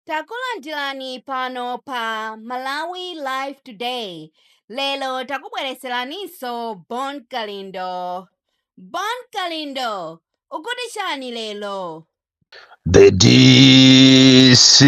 Takulandirani pano pa Malawi Live Today. Lero takubwereseraninso Bon Kalindo. Bon Kalindo, ukuti chani lero? The DC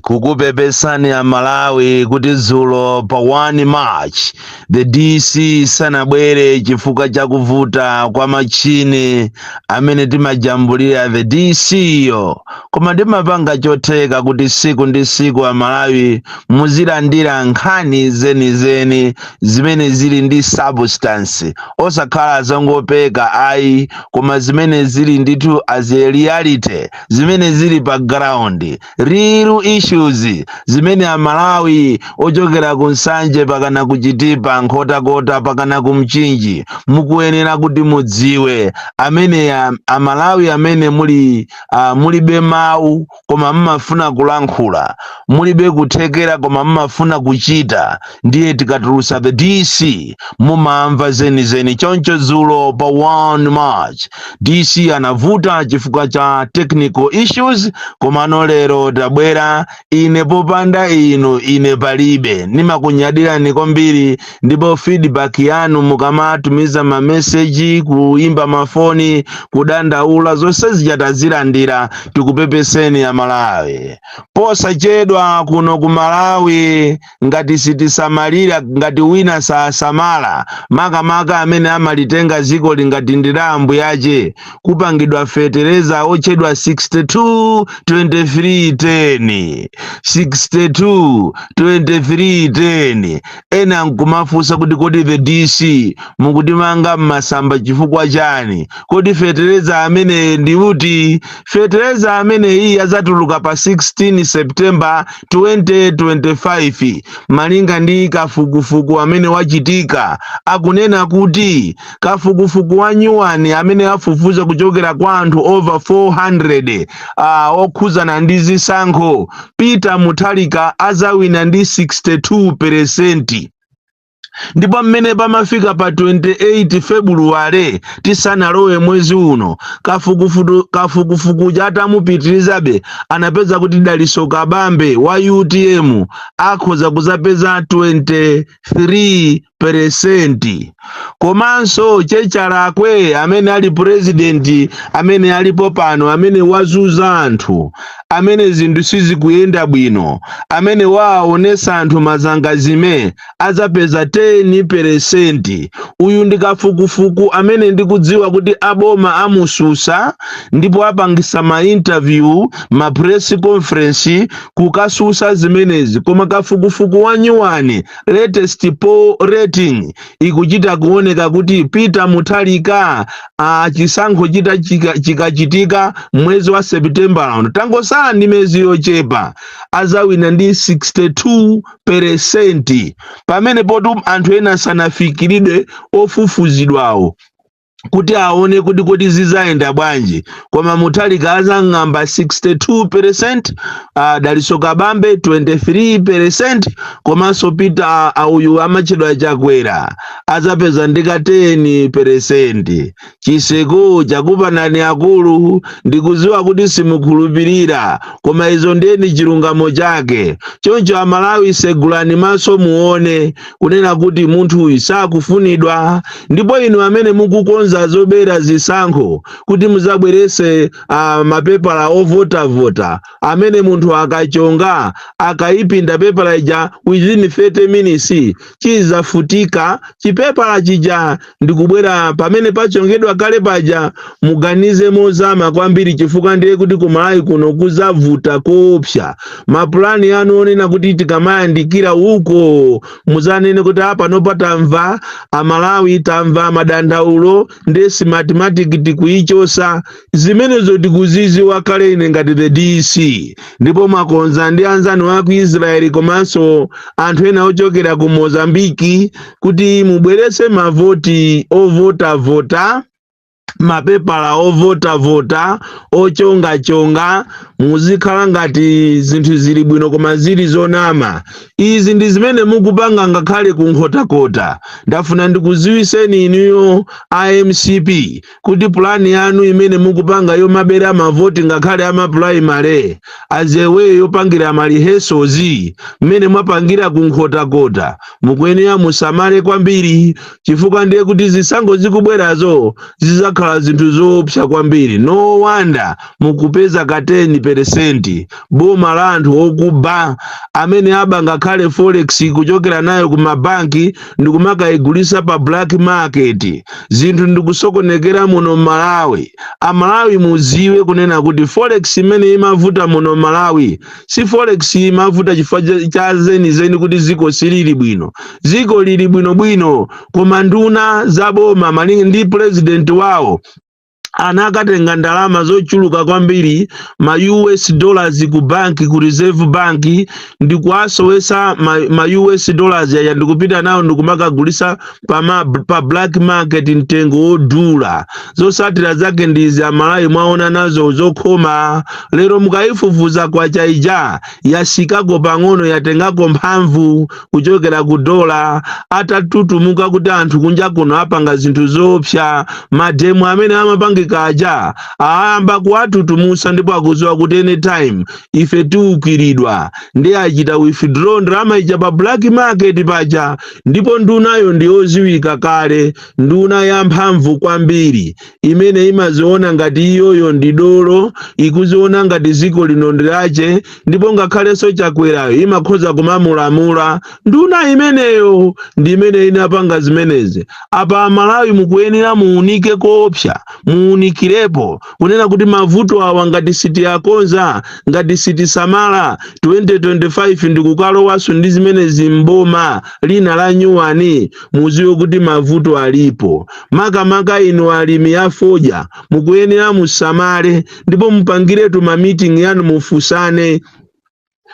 kukupepesani a Malawi kuti dzulo pa 1 March the dc sanabwere chifukwa cha kuvuta kwa machine amene timajambulira the dc yo koma timapanga chotheka kuti siku ndi siku amalawi muzilandira nkhani zenizeni zimene zili ndi substance osakhala zongopeka ayi koma zimene zili ndithu as a reality zimene zili pa ground real issues zimene amalawi ochokera ku nsanje pakana ku chitipa nkhotakota pakana ku mchinji mukuyenera kuti mudziwe amene a- amalawi amene muli uh, mulibe mawu koma mmafuna kulankhula mulibe kuthekera koma mmafuna kuchita ndiye tikatulutsa the dc mumamva zenizeni choncho dzulo pa 1 march dc anavuta chifukwa cha technical issues komano lero tabwera ine popanda inu ine palibe ndimakunyadirani kwambiri ndipo feedback yanu mukamatumiza mameseji kuimba mafoni kudandaula zonse zija tazilandira tikupepeseni amalawi posachedwa kuno ku malawi ngati sitisamalira, ngati wina sasamala, makamaka amene amalitenga zikoli ngati ndi la mbuyache, kupangidwa fetereza otchedwa 62-23-10. 62-23-10. Ena nkumafunsa kuti kodi the DC mukutimanga m'masamba chifukwa chani? Kodi fetereza ameneyo ndi uti? Fetereza ameneyi adzatuluka pa 16 September 2025 malinga ndi kafukufuku amene wachitika akunena kuti kafukufuku wa nyuwani amene afufuza kuchokera kwa anthu over 400 ah, okhuzana ndi zisankho peter mutharika azawina ndi 62 peresenti ndipo mmene pamafika pa 28 febuluwale tisanalowe mwezi uno kafukufuku uja atamupitirizabe anapeza kuti daliso kabambe wa utm akhoza kuzapeza 23 peresenti komanso che chalakwe amene ali purezidenti amene alipo pano amene wazuza anthu amene zinthu sizikuyenda bwino amene waonesa anthu mazangazime adzapeza 10 peresenti. Uyu ndi kafukufuku amene ndikudziwa kuti aboma amususa ndipo apangisa ma interview, ma press conference kukasusa zimenezi koma kafukufuku wa nyuwani uyu latest poll rating ikuchita kuoneka kuti Peter Mutharika chisankho chita chika- chikachitika mwezi wa September uno tangosala ndi mezi yochepa azawina ndi 62 peresenti pamene poti anthu ena sanafikiridwe ofufuzidwawo kuti aone kuti kodi zizayenda bwanji koma Mutharika azang'amba 62 percent uh, Dalitso Kabambe 23 percent komanso peter uh, uyu amatchedwa Chakwera azapeza ndika 10 percent Chiseko chakuphani akulu. Ndikudziwa kuti simukhulupirira, koma izo ndiye ndi chilungamo chake. Choncho Amalawi segulani maso muone kunena kuti munthuyu sakufunidwa. Ndipo inu amene mukukonza zobera zisankho kuti mudzabweretse mapepala ovotavota amene munthu akachonga akaipinda pepala ija within 30 minutes chizafutika chipepala chija ndikubwera pamene pachongedwa kale paja muganize mozama kwambiri chifukwa ndiye kuti ku Malawi kuno kuzavuta koopsa mapulani anu onena kuti tikamayandikira uko muzanene kuti a panopa tamva amalawi tamva madandaulo ndiye Smartmatic tikuyichosa zimenezo tikuziziwa kale ine ngati the dc ndipo mwakonza ndi anzanu a ku israeli komanso anthu ena ochokera ku mozambiki kuti mubweretse mavoti ovotavota mapepala ovotavota ochongachonga zizikhala ngati zinthu zili bwino koma zili zonama izi ndi zimene mukupanga ngakhale ku nkhotakota ndafuna ndikuziwiseni inuyo a mcp kuti pulani yanu imene mukupanga yomabera mavoti ngakhale amapulaimale adzeweyo yopangira malihesozi mmene mwapangira kunkhotakota mukuyenera musamale kwambiri chifukwa ndiye kuti zisankho zikubwerazo zizakhala zinthu zoopsa kwambiri no wonder mukupeza ka 10 peresenti boma la anthu okuba amene aba ngakhale forex kuchokera nayo ku mabanki ndikumakayigulisa pa black market zinthu ndikusokonekera muno malawi amalawi muziwe kunena kuti forex imene imavuta muno malawi si forex imavuta chifukwa cha- cha zenizeni kuti ziko silili bwino ziko lili bwinobwino koma nduna za boma malinga ndi president wawo anakatenga ndalama zochuluka kwambiri ma us dollars ku banki ku reserve bank ndikuwasowesa ma, ma us dollars yaya ndikupita nawo ndikumakagulisa pa, ma, pa black market mtengo wodula zosatira zake ndizi amalawi mwaona nazo zokhoma lero mukayifufuza kwacha ija yatsikako pang'ono yatengako mphamvu kuchokera ku dola atatutumuka kuti anthu kunja kuno apanga zinthu zoopsa mademo amene amapangika aja ayamba kuwatutumusa ndipo akuziwa kuti anytime ife tiukiridwa ndi achita withdraw ndalama ija pa black market paja ndipo ndunayo ndiyoziwika kale nduna ya mphamvu kwambiri imene imaziona ngati iyoyo ndi dolo ikuziona ngati dziko lino ndi lake ndipo ngakhalenso chakwerayo imakhoza kumamulamula nduna imeneyo ndi imene inapanga zimenezi apa amalawi mukuyenera muunike koopsa muunikirepo kunena kuti mavuto awa ngati sitiyakonza ngati sitisamala 2025 ndikukalowanso ndi zimenezi mboma lina la nyuwani muziwe kuti mavuto alipo makamaka inu alimi a fodya mukuyenera musamale ndipo mupangiretu ma meeting yanu mufusane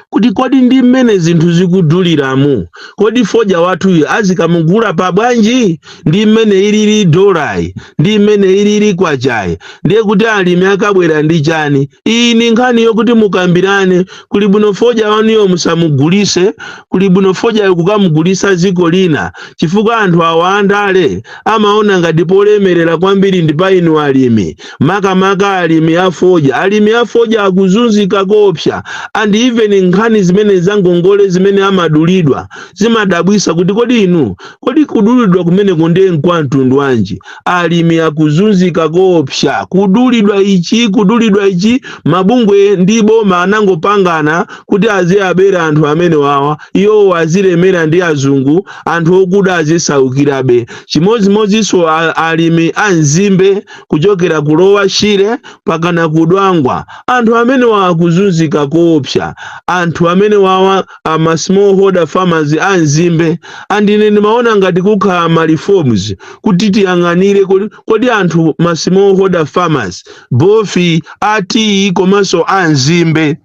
kuti kodi ndi mmene zinthu zikuduliramu kodi fodya wathuyu azikamugula pa bwanji ndi mmene ilili dolayi ndi mmene ilili kwachayi ndiye kuti alimi akabwera ndi chani iyi ndi nkhani yokuti mukambirane kuli bwino fodya wanuyo musamugulise kuli bwino fodya kukamugulisa dziko lina chifukwa anthu awa andale amaona ngati polemerera kwambiri ndi pa inu alimi makamaka alimi a fodya alimi a fodya akuzunzika koopsa and even nkhani zimene zangongole zimene amadulidwa zimadabwisa kuti kodi inu kodi kudulidwa kumeneko ndiye nkwa mtundu wanji alimi akuzunzika koopsa kudulidwa ichi kudulidwa ichi mabungwe ndi boma anangopangana kuti aziwabera anthu amene wawa iwowo azilemera ndi azungu anthu okuda azisaukirabe chimodzimodzinso a- alimi a nzimbe kuchokera ku lower shire pakana ku dwangwa anthu amene wawa akuzunzika koopsa anthu amene wawa ama smallholder farmers a nzimbe and ine ndimaona ngati kukhala ma reforms kuti tiyang'anire kodi, kodi anthu ma smallholder farmers both a tiyi komanso a nzimbe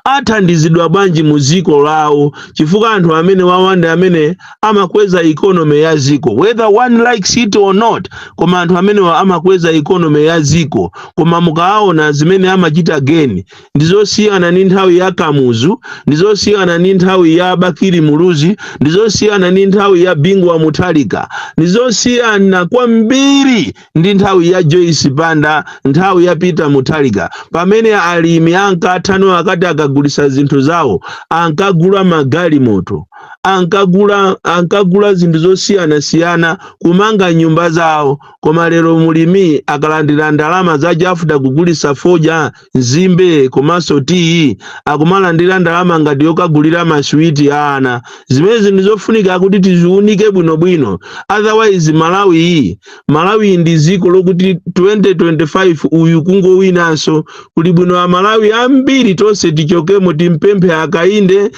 athandizidwa bwanji mu dziko lawo chifukwa anthu amene wawa ndi amene amakweza economy ya dziko whether one likes it or not koma anthu amenewa amakweza economy ya dziko koma mukaona zimene amachita gain ndi zosiyana ndi nthawi ya kamuzu ndi zosiyana ndi nthawi ya bakili muluzi ndi zosiyana ndi nthawi ya bingu wa mutharika ndi zosiyana kwambiri ndi nthawi ya joyce banda nthawi ya peter mutharika pamene alimi ankathano akati akagulisa zinthu zawo ankagula magalimoto ankagula ankagula zinthu zosiyanasiyana kumanga nyumba zawo koma lero mulimi akalandira ndalama za chafuta kugulisa fodya nzimbe komanso tiyi akumalandira ndalama ngati yokagulira maswiti a ana zimenezi ndi zofunika kuti tiziunike bwinobwino otherwise malawi iyi malawi ndi dziko lokuti 2025 uyu kungowinanso kuli bwino amalawi ambiri tonse tichokemo timpemphe akainde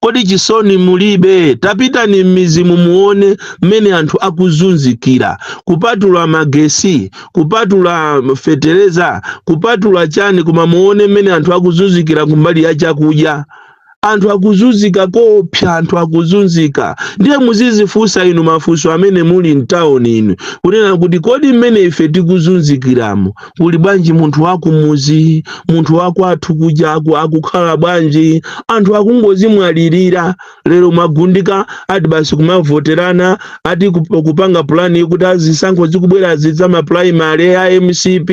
kodi chisoni mulibe tapitani m'mizimu muone mmene anthu akuzunzikira kupatula magesi kupatula fetereza kupatula chani koma muone mmene anthu akuzunzikira kumbali ya chakudya anthu akuzunzika koopsa anthu akuzunzika ndiye muzizifunsa inu mafunso amene muli mtawuni inu kunena kuti kodi mmene ife tikuzunzikiramo kuli bwanji munthu wakumuzi munthu wakwathu kuja aku- akukhala bwanji anthu akungozimwalirira lero mwagundika ati basi kumavoterana ati kup- kupanga pulani kuti azisankho zikubwerazi za mapulaimale a mcp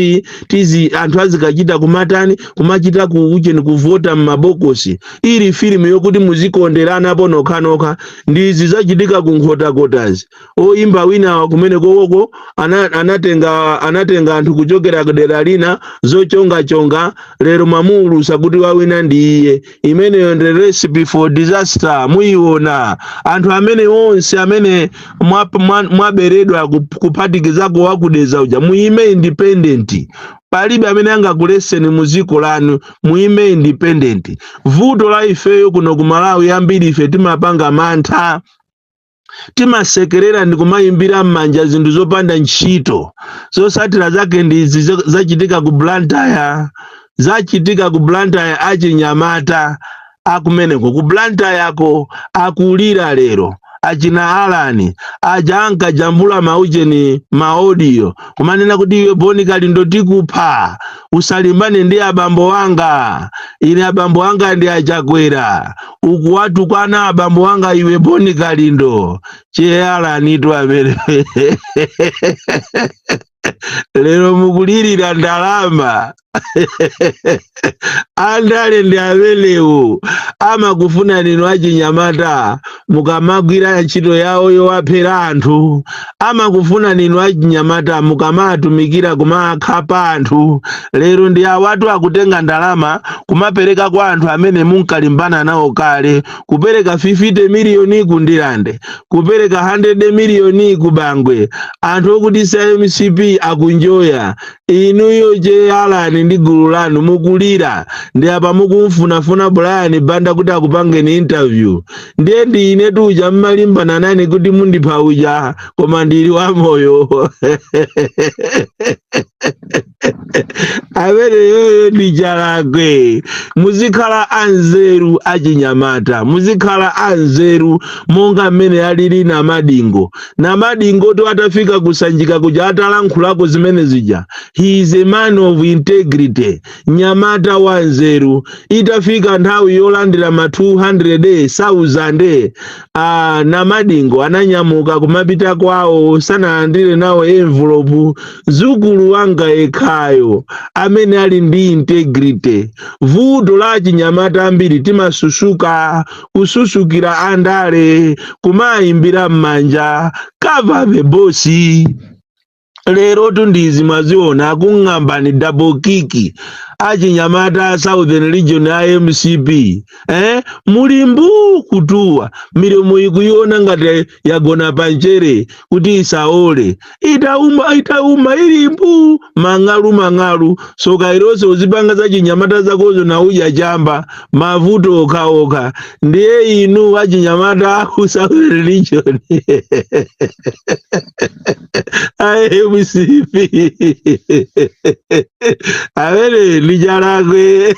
tizi anthu azikachita kumatani kumachita ku ujeni kuvota m'mabokosi ili filimu yokuti muzikonderanapo nokhanokha ndi izi zachitika ku nkhotakotazi oyimba wina kumenekoko ana, anatenga anatenga anthu kuchokera kudera lina zochongachonga lero mwamuulusa kuti wawina ndi iye imeneyo ndi recipe for disaster muyiona anthu amene onse amene mwa- mwa- mwaberedwa ku- kuphatikizako wa ku dedza uja muyime independent palibe amene angakuleseni mu dziko lanu muyime independent vuto la ifeyo kuno ku malawi ambiri ife timapanga mantha timasekerera ndi kumayimbira m'manja zinthu zopanda ntchito zotsatira zake ndi izi zo- zachitika ku blantyre zachitika ku blantyre achinyamata akumeneko ku blantyreko akulira lero achina alani aja ankajambula maujeni maodiyo kumanena kuti iwe boni kalindo tikupha usalimbane ndi abambo anga ine abambo anga ndi achakwera ukuwatukwana abambo anga iwe boni kalindo che alanitu amene lero mukulirira ndalama andale ndi amenewo amakufunani inu achinyamata mukamagwira ntchito yawo yowaphera anthu amakufuna ninu achinyamata mukamatumikira kumakhapa anthu lero ndi awatu akutenga ndalama kumapereka kwa anthu amene munkalimbana nawo kale kupereka 50 miliyoni ku ndilande kupereka 100 miliyoni ku bangwe anthu okuti si a mcp akunjoya inuyo je alani ndi gulu lanu mukulira ndi apa mukumfunafuna brian banda kuti akupangeni interview ndiye ndi ine uja mmalimbana nane kuti mundipha uja koma ndili wamoyo ameneyoyo ndi chalakwe muzikhala anzeru achinyamata muzikhala anzeru monga mmene alili namadingo Namadingotu atafika ku Sanjika kuja atalankhulako zimene zija. He is a man of integrity, nyamata wa nzeru. Itafika nthawi yolandira ma 200,000 Namadingo ananyamuka kumapita kwawo sanalandire nawo envelopu. Zukulu wanga yekhayo amene ali ndi integrity. Vuto la achinyamata ambiri timasusuka kususukira andale kumayimbira m'manja kwacha bosi lero tundizi mwaziona akung'ambani double kiki achinyamata a southern region a mcp eh? muli mbu kutuwa milomo ikuiona ngati yagona panjere kuti isaole itauma itauma ili mbu mang'alu mang'alu soka ilonse uzipanga za chinyamata zakozo ndi kudya chamba mavuto okhaokha ndiye inu achinyamata aku southern region mcp amene chalakwe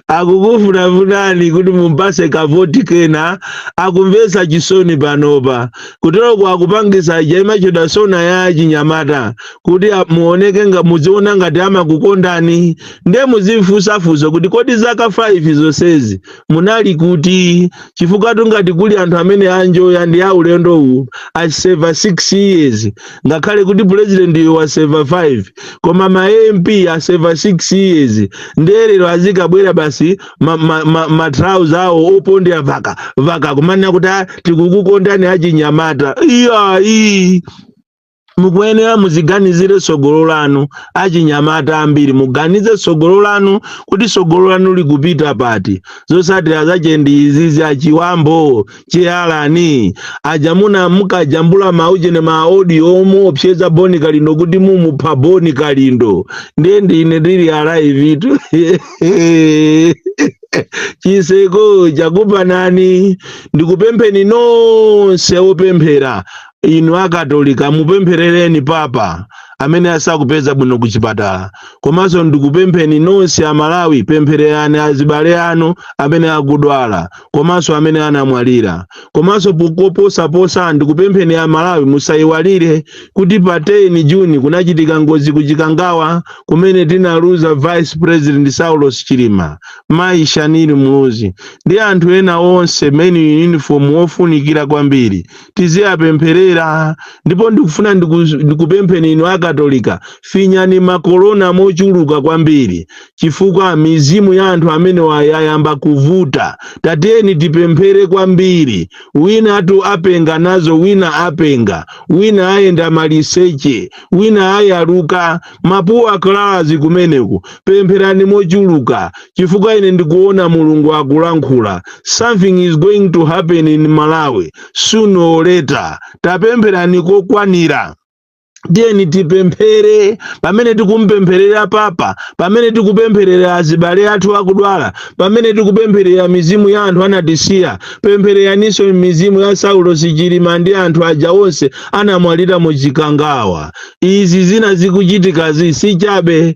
akukufunafunani kuti mumpase kavoti kena akumvesa chisoni panopa kuteroko akupangisa ija imachedwa sona ya chinyamata kuti a- muoneke nga muziona ngati amakukondani nde muzimfusa fuso kuti kodi zaka 5 zonsezi munali kuti chifukwa tu ngati kuli anthu amene anjoya ndi a ulendo uwu aseva 6 years ngakhale kuti pulezidentiyo waseva 5 koma ma mp aseva 6 years ndiye lero azikabwera basi matrauza awo opondera vaka vaka kumanena kuti "tikukukondani achinyamata iyayi mukuyenera muziganizire tsogolo lanu achinyamata ambiri muganize tsogolo lanu kuti tsogolo lanu likupita pati zotsatira zache ndi izizi achiwambo che Alani ajamuna mukajambula maujeni ma audio omuopseza boni kalindo kuti mumupha boni kalindo ndiye ndine ndili alive-tu chiseko chakupa ndani ndikupempheni nonse opemphera inu akatolika mupempherereni papa amene asakupeza bwino ku chipatala komanso ndikupempheni nonse amalawi pemphererani azibale anu amene akudwala komanso amene anamwalira komanso po koposaposa ndikupempheni amalawi musayiwalire kuti pa 10 juni kunachitika ngozi ku chikangawa kumene tinaluza vice president saulos chilima mayi shanili muluzi ndi anthu ena onse men in uniform ofunikira kwambiri tiziwapempherera ndipo ndikufuna ndikupempheni inu akatolika finyani makolona mochuluka kwambiri chifukwa mizimu ya anthu amenewa yayamba kuvuta tatiyeni tipemphere kwambiri winatu apenga nazo wina apenga wina ayenda maliseche wina ayaluka mapuwa akalazi kumeneku pempherani mochuluka chifukwa ine ndikuona mulungu akulankhula something is going to happen in malawi sooner or later tapempherani kokwanira tiyeni tipemphere pamene tikumpempherera papa pamene tikupempherera azibale athu akudwala pamene tikupempherera mizimu ya anthu anatisiya pemphereraninso mizimu ya saulos chilima ndi anthu aja onse anamwalira mu chikangawa izi zina zikuchitikazi si chabe